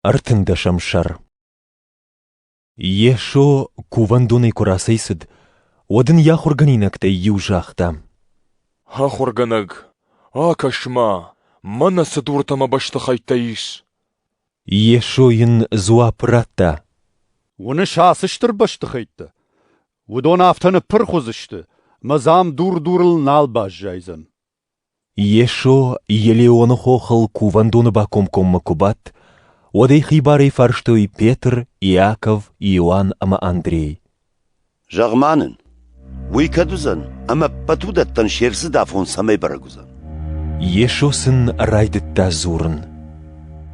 Ӕртындӕсӕм сӕр Йесо кувӕндонӕй куы рацӕйцыд, уӕд ын йӕ ахуыргӕнинӕгтӕй иу загъта: «Ахуыргӕнӕг, акӕс-ма, мӕнӕ цы дуртӕ мӕ бӕстыхӕйттӕ ис!» Йесо йын дзуапп радта: «Уыныс ацы стыр бӕстыхӕйттӕ? Уыдон афтӕ ныппырх уыдзысты, мӕ дзам дур дурыл нал баззайдзӕн». Йесо Елеоны хохыл кувӕндоны бакомкоммӕ куы бадт, уӕд ӕй хибарӕй фарстой Петр, Иаков, Иоанн ӕмӕ Андрей. «Зӕгъ-ма нын, уый кӕд уыдзӕн ӕмӕ ӕппӕт уыдӕттӕн се рдзыд афон цӕмӕй бӕрӕг уыдзӕн?» Йесо сын райдыдта дзурын.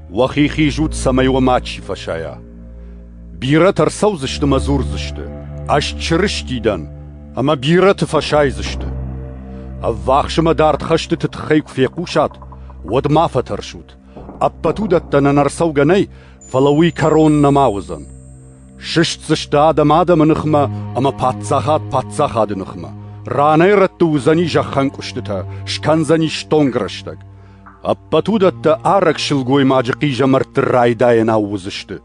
«Уӕхи хизут, цӕмӕй уӕ мачи фӕсайа. Бирӕтӕ ӕрцӕудзысты мӕ дзурдзысты: Ӕз Чырысти дӕн, ӕмӕ бирӕты фӕсайдзысты. Ӕввахс ӕмӕ дард хӕстыты тыххӕй куы фехъусат, уӕд ма фӕтӕрсут: ӕппӕт уыдӕттӕ нӕнӕрцӕугӕ нӕй, фӕлӕ уый кӕрон нӕма уыдзӕн. Сыстдзысты адӕм адӕмы ныхмӕ ӕмӕ паддзахад паддзахады ныхмӕ. Ранӕй-рӕтты уыдзӕни зӕххӕнкъуыстытӕ, скӕндзӕни стонг рӕстӕг. Ӕппӕт уыдӕттӕ арӕг сылгоймаджы хъизӕмӕртты райдайӕнау уыдзысты.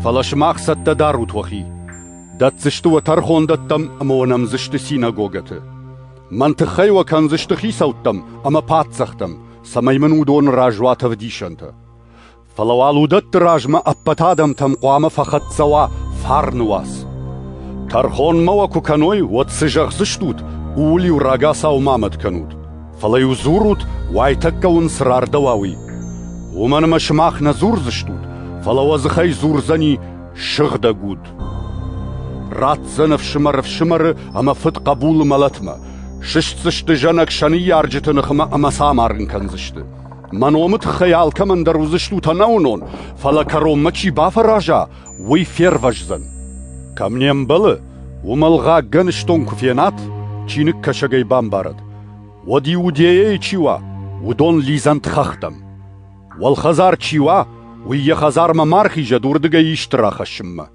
Фӕлӕ сымах цӕттӕ дарут уӕхи. Дӕтдзысты уӕ тӕрхондӕттӕм ӕмӕ уӕ нӕмдзысты синагогӕты. Мӕн тыххӕй уӕ кӕндзысты хицӕуттӕм ӕмӕ паддзӕхтӕм, цӕмӕй мын уыдон разуат ӕвдисӕнтӕ. Фӕлӕ уал уыдӕтты размӕ ӕппӕт адӕмтӕм хъуамӕ фӕхӕццӕ уа фарны уац. Тӕрхонмӕ уӕ куы кӕной, уӕд цы зӕгъдзыстут, ууыл-иу рагацау ма мӕт кӕнут. Фӕлӕ-иу дзурут, уайтӕккӕ уын цы рардӕуа, уый. Уымӕн ӕмӕ сымах нӕ дзурдзыстут, фӕлӕ уӕ дзыхӕй дзурдзӕни сыгъдӕг уд. Ратдзӕн ӕфсымӕр ӕфсымӕры ӕмӕ фыд хъӕбулы мӕлӕтмӕ, сыстдзысты зӕнӕг сӕ ныййарджыты ныхмӕ ӕмӕ сӕ амарын кӕндзысты. Мӕ номы тыххӕй алкӕмӕн дӕр уыдзыстут ӕнӕуынон, фӕлӕ кӕронмӕ чи бафӕраза, уый фервӕздзӕн. Кӕм не мбӕлы, уымӕл гъӕггӕн стон куы фенат, чиныгкӕсӕгӕй бамбарӕд, уӕд Иудейӕйы чи уа, уыдон лидзӕнт хӕхтӕм. Уӕлхӕдзар чи уа, уый йӕ хӕдзармӕ ма рхизӕд уырдыгӕй исты рахӕссынмӕ.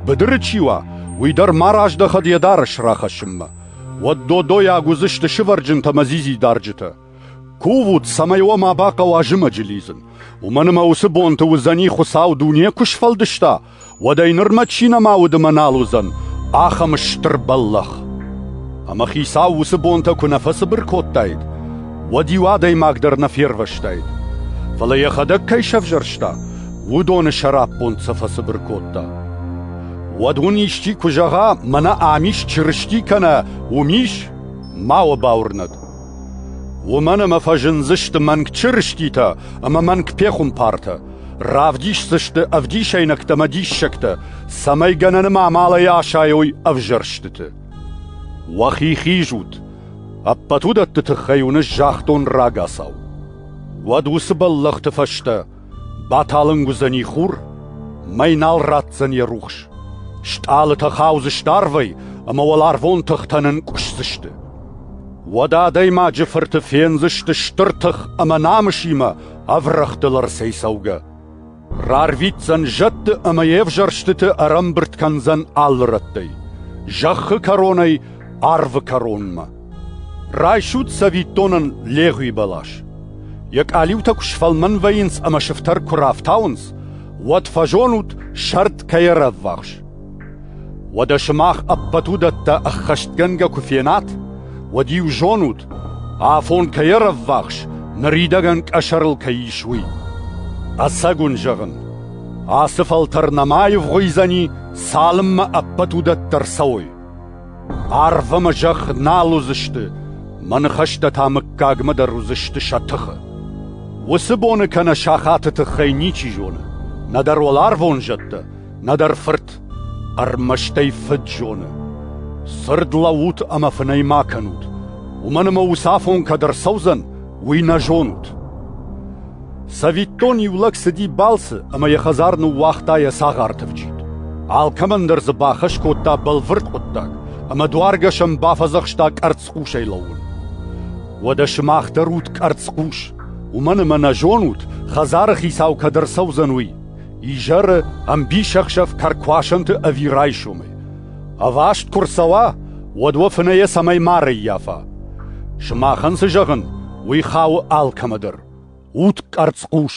Быдыры чи уа, уый дӕр ма раздӕхӕд йӕ дарӕс рахӕссынмӕ. Уӕд додойаг уыдзысты сывӕрджынтӕ ӕмӕ дзидзидарджытӕ. Кувут, цӕмӕй уӕ ма бахъӕуа зымӕджы лидзын. Уымӕн ӕмӕ уыцы бонты уыдзӕни, Хуыцау дуне куы сфӕлдыста, уӕд ӕй нырмӕ чи нӕма уыд ӕмӕ нал уыдзӕн, ахӕм стыр бӕллӕх. Ӕмӕ Хицау уыцы бонтӕ куы нӕ фӕцыбыр кодтаид, уӕд-иу адӕймаг дӕр нӕ фервӕзтаид. Фӕлӕ йӕхӕдӕг кӕй сӕвзӕрста, уыдоны сӕраппонд сӕ фӕцыбыр кодта. Уӕд уын исчи куы зӕгъа, мӕнӕ ам ис Чырысти кӕнӕ уым ис, ма уӕ бауырнӕд. Уымӕн ӕмӕ фӕзындзысты мӕнг чырыститӕ ӕмӕ мӕнг пехуымпартӕ, равдисдзысты ӕвдисӕйнӕгтӕ ӕмӕ диссӕгтӕ, цӕмӕй гӕнӕны амалӕй асайой ӕвзӕрстыты. Уӕхи хизут, ӕппӕт уыдӕтты тыххӕй уыны загътон рагацау. Уӕд уыцы бӕллӕхты фӕстӕ Баталынг уыдзӕни хур, мӕй нал ратдзӕн йӕ рухс. Стъалытӕ хаудзысты арвӕй, ӕмӕ уӕларвон тыхтӕ нынкъуысдзысты. Уӕдӕ адӕймаджы фырты фендзысты стыр тых ӕмӕ намысимӕ ӕврӕгътыл ӕрцӕйцӕугӕ. Рарвитдзӕн зӕдты ӕмӕ йе взӕрстыты ӕрӕмбырд кӕндзӕн алы рӕттӕй, зӕххы кӕронӕй арвы кӕронмӕ. Райсут цӕвиттонӕн легъуи бӕлас. Йӕ къалиутӕ куы сфӕлмӕн вӕййынц ӕмӕ сыфтӕр куы рафтауынц, уӕд фӕзонут, сӕрд кӕй ӕрӕввахс. Уӕдӕ сымах ӕппӕт уыдӕттӕ ӕххӕстгӕнгӕ куы фенат, уӕд-иу зонут, афон кӕй ӕрӕввахс, ныридӕгӕн къӕсӕрыл кӕй ис, уый. Ӕцӕг уын зӕгъын, ацы фӕлтӕр нӕма аивгъуыйдзӕни, цалынмӕ ӕппӕт уыдӕттӕ рцӕуой. Арв ӕмӕ зӕхх нал уыдзысты, мӕ ныхӕстӕ та мыггагмӕ дӕр уыдзысты сӕ тыхы. Уыцы боны кӕнӕ сахаты тыххӕй ничи зоны, нӕдӕр уӕларвон зӕдтӕ, нӕдӕр фырт, ӕрмӕстӕй фыд зоны. Цырд лӕуут ӕмӕ фынӕй ма кӕнут, уымӕн ӕмӕ ус афон кӕд ӕрцӕудзӕн, уый нӕ зонут. Цӕвиттон, иу лӕг цыди балцы ӕмӕ йӕ хӕдзар ныууагъта йӕ цагъар тыфджит. Алкӕмӕн дӕр дзы бахӕс кодта бӕлвырд хъуыддаг, ӕмӕ дуаргӕсӕн бафӕдзӕхста къӕрцхъусӕй лӕууын. Уӕдӕ сымах дӕр ут къӕрцхъус, уымӕн ӕмӕ нӕ зонут, хӕдзары хицау кӕд ӕрцӕудзӕн, уый. Изӕры ӕмбисӕхсӕв кӕркуасӕнты ӕви райсомӕй. Ӕваст куы рцӕуа, уӕд уӕ фынӕйӕ цӕмӕй ма рӕййафа? Сымахӕн цы зӕгъын, уый хауы алкӕмӕ дӕр: ут къӕрцхъус!